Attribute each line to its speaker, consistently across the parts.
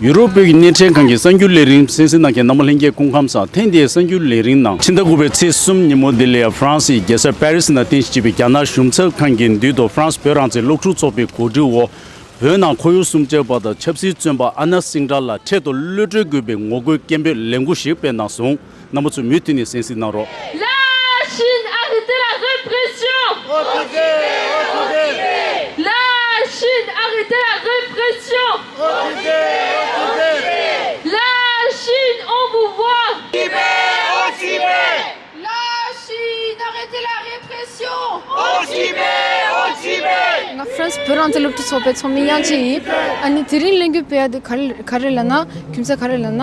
Speaker 1: ཡུ་རོབ་བོད་ཀྱི་གནས་ཕྲན་ཁང་གི་གསར་འགྱུར་ལས་རིང་སེན་སི་ནང་གི་ནམ་མོ་ལྷན་རྒྱས་སྐུ་ཁམས་སམ་ཐེངས་འདིའི་གསར་འགྱུར་ལས་རིང་ནང་ཕྱི་ཟླ་དགུ་པའི་ཚེས་གསུམ་ཉིན་མོ་དེ་ལས་ཧྥ་རན་སིའི་རྒྱལ་ས་པེ་རི་སི་ནང་རྟེན་གཞི་བྱས་པའི་རྒྱ་ནག་གཞུང་ཚབ་ཁང་གི་མདུན་དུ་ཧྥ་རན་སི་བོད་རང་བཙན་སློབ་ཕྲུག་ཚོགས་པའི་གོ་སྒྲིག་འོག་བོད་ནང་ཁོར་ཡུག་སྲུང་སྐྱོབ་པ་དང་ཆབ་སྲིད་བཙོན་པ་ཨ་ན་སིང་དྲ་ལ་འཕྲལ་དུ་གློད་བཀྲོལ་དགོས་པའི་ངོ་རྒོལ་སྐད་འབོད་ལས་འགུལ་ཞིག་སྤེལ་གནང་སོང། རྣམ་པ་ཚོས་མུས་མཐུན་ནས་གསན་གཟིགས་གནང་རོགས།
Speaker 2: ང་ཧྥ་རན་སི་
Speaker 3: བོད་
Speaker 4: རང་བཙན་སློབ་ཕྲུག་ཚོགས་པའི་ཚོགས་མི་དབྱངས་ཅན་ཡིན། ཨ་ནི་དེ་རིང་གླེང་རྒྱུ་དཔེ་ཡག་འདི་ག་རེ་ལ་ན། རྒྱུ་མཚན་ག་རེ་ལ་ན།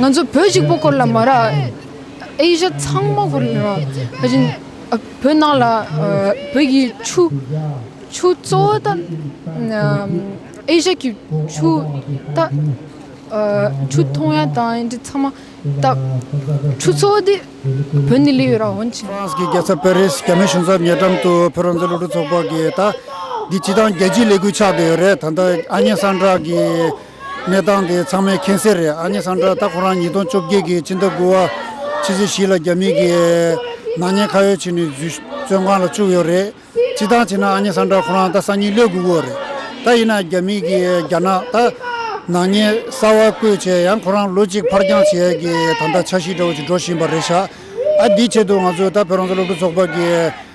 Speaker 4: ང་ཚོ་བོད་གཅིག་པོ་སྐོར་ལ་མ་རག་ཨེ་ཤ་ཚང་མ་སྐོར་ལ་བོད་ནང་ལ་བོད་ཀྱི་ཆུ་ཆུ་གཙོ་བོ་ད་ཨེ་ཤ་ཀྱི་ཆུ་ད་ཆུ་མཐོང་ཡ་ད་ཨེ་འདྲ་ཚང་མ་ད་ཆུ་གཙོ་བོ་དེ་བོད་ནས་ལེ་ཡོད་ར་ཧོན་ཅིན། ཧྥ་རན་སི་གི་རྒྱལ་ས་པེ་རིས་
Speaker 5: རྒྱ་མི་གཞུང་ཚབ་ཉེ་འགྲམ་དུ་བོད་རང་བཙན་སློབ་ཕྲུག་ཚོགས་པ་གིས་ད་འདི་སྤྱི་སྟངས་རྒྱལ་སྤྱིའི་ལས་འགུལ་ཆགས་བསྡད་ཡོད་རེད་ད་ལྟ་ཨ་མྱེ་སངས་དྲག་གིས། གནས་སྟངས་དེ་ཚང་མའི་མཁྱེན་གསལ་རེད་ཨ་ནེ་སཱན་དྲ་ད་ཁོ་རང་ཉིས་སྟོང་བཅོ་བརྒྱད་ཀྱི་ཕྱི་ཟླ་དགུ་བ་ཕྱི་ཚེས་བཞི་ལ་རྒྱ་མིའི་གིས་ནག་ཉེས་ཁ་ཡོད་བྱས་ནས་འཛུལ་བཙོན་ཁང་ལ་བཅུག་ཡོད་རེད་སྤྱི་སྟངས་བྱས་ན་ཨ་ནེ་སཱན་དྲ་ཁོ་རང་ད་སང་ཉིན་ལོད་དགོས་གི་རེད་ད་ཡིན་ན་རྒྱ་མིའི་གིས་རྒྱ་ནག་ད་ནག་ཉེས་གསར་བ་བཀོད་བྱས་ཡང་ཁོ་རང་ལོ་གཅིག་ཕར་འགྱངས་བྱས་གི་ད་ལྟ་ཆགས་ཤིག་འདྲ་བོ་ཞིག་འགྲོ་བཞིན་པ་རེད་ཤག་ཨ་དེའི་ཆེད་དུ་ང་ཚོས་ད་བོད་རང་བཙན་སློབ་ཕྲུག་ཚོགས་པ་གིས།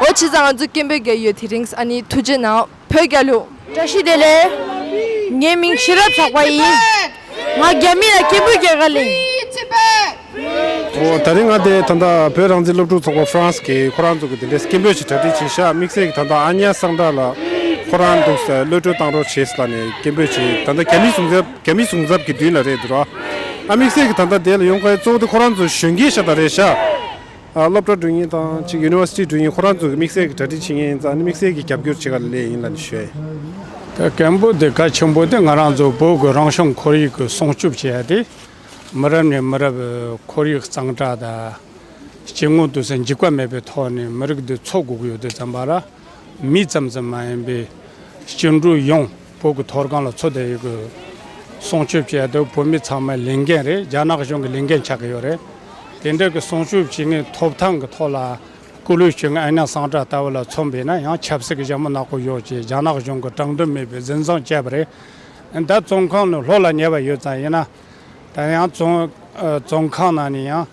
Speaker 3: ཨོ་ཕྱི་ཟ་ང་ཚོ་སྐད་འབོད་རྒྱག་ཡོད་དེ་རིང་ཨ་ནི་ཐུགས་རྗེ་ན་བོད་རྒྱ་ལུགས། བཀྲ་ཤིས་བདེ་ལེགས། ངའི་མིང་ཤེས་རབ་ལྷག་པ་ཡིན། ང་རྒྱ་མི་ལ་སྐད་འབོད་རྒྱག་ག་ལེན། ཨོ་
Speaker 6: ད་རིང་ང་དེ་ད་ལྟ་བོད་རང་བཙན་སློབ་ཕྲུག་ཚོགས་པ France གིས་ཁོ་རང་ཚོ་གི་དེ་འདྲའི་སྐད་འབོད་ཞིག་གྲ་སྒྲིག་བྱེད་ཤག་དམིགས་བསལ་གྱི་ད་ལྟ་ཨ་ཉག་སང་དྲག་ལ་ཁོ་རང་འདུག་ས་གློད་བཀྲོལ་བཏང་རོགས་བྱེད་ས་ལ་ནས་སྐད་འབོད་བྱེད་ད་ལྟ་རྒྱ་མི་ཟུང་རྒྱ་མི་ཟུང་ཟབ་གི་མདུན་ལ་རེད་འདུག་ར་ཨ་དམིགས་བསལ་གྱི་ད་ལྟ་དེ་ལ་ཡོང་མཁན་གཙོ་བོ་དེ་ཁོ་རང་ཚོ་གཞོན་སྐྱེས་ཤག་དང་རེད་ཤག། སློབ་གྲྭ་འགྲུལ་ཉིན་དང་གཅིག University འགྲུལ་ཉིན་ཁོ་རང་ཚོ་གི་དམིགས་བསལ་གྱི་གྲ་སྒྲིག་བྱེད་མཁན་ཡིན་ཙང་ནི་དམིགས་བསལ་གྱི་རྒྱབ་སྐྱོར་བྱེད་ག་ལ་ལས་ཡིན་ལ་ནི་ཞེས། ད་གལ་འབོད་དེ་གལ་ཆེན་པོ་དེ་ང་རང་ཚོ་བོད་ཀྱི་རང་བྱུང་ཁོར་ཡུག་གི་སྲུང་སྐྱོབ་བྱེད་ཡ་དེ་མི་རབས་ནས་མི་རབས་ཁོར་ཡུག་གཙང་དྲག་དང་སྐྱེ་དངོས་དུ་ས་འཇིག་པ་མེད་པའི་ཐོག་ནས་མི་རིགས་འདི་འཚོ་དགོས་ཀྱི་ཡོད་དེ་བརྩམས་པ་ར། མི་ཙམ་ཙམ་མ་ཡིན་པའི་སྐྱེ་འགྲོ་ཡོངས་བོད་ཀྱི་མཐོ་སྒང་ལ་འཚོ་བསྡད་ཡོད་དགོས། སྲུང་སྐྱོབ་བྱེད་ཡ་དེ་བོད་མི་ཚང་མའི་ལས་འགན་རེད་རྒྱ་ནག་གཞུང་གི་ལས་འགན་ཆགས་ཀྱི་ཡོད་རེད། དེ་འདྲ་གི་སྲུང་སྐྱོབ་བྱེད་ངེས་ཐོབ་ཐང་གི་ཐོག་ལ་སྐུ་ལུས་སྐྱེ་ངན་ཨ་ཉག་སང་དྲག་ལྟ་བུ་ལ་མཚོན་པས་ན་ཡང་ཆབ་སྲིད་ཀྱི་ཞྭ་མོ་ནག་པོ་ཡོད་ཅེས་རྒྱ་ནག་གཞུང་གི་དྲང་དོན་མེད་པའི་འཛིན་བཟང་སྤྱད་པ་རེད། ད་བཙོན་ཁང་ནས་ལྷོད་ལ་ཉལ་བ་ཡོད་ཙང་ཡིན་ན། ད་ཡང་རྫོང་ཁག་ནང་ནས་ཡང་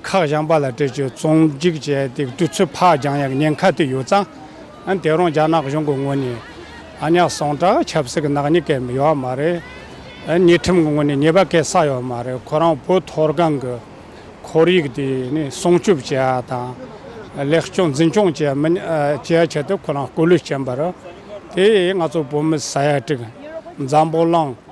Speaker 6: ཁག་གཞན་པ་ལ་སྤྲད་ཆོས་རྫོང་སྒྲིག་བྱས་ཏེ་སྤྲུལ་ཚུལ་ཕག་རྒྱང་ཡག་ཉེན་ཁ་དེ་ཡོད་ཙང་དེ་རང་རྒྱ་ནག་གཞུང་གི་ངོས་ནས་ཨ་ཉག་ཟངས་དྲག་ཆབ་སྲིད་ཀྱི་ནག་ཉེས་སྐལ་ཡོད་བ་མ་རེད་ཉེས་ཁྲིམས་ཀྱི་ངོས་ནས་ཉེས་པ་སྐལ་བསགས་ཡོད་བ་མ་རེད་ཁོ་རང་བོད་མཐོ་སྒང་གི་ཁོར་ཡུག་དེ་ནི་སྲུང་སྐྱོབ་བྱས་བ་དང་ལེགས་སྐྱོང་འཛིན་སྐྱོང་བྱས་ཆེད་དུ་ཁོ་རང་སྐུ་ལུས་བྱིན་པ་རེད་དེ་ཡིས་ང་ཚོ་བོད་མི་ས་ཡ་དྲུག་འཛམ་བུ་གླིང།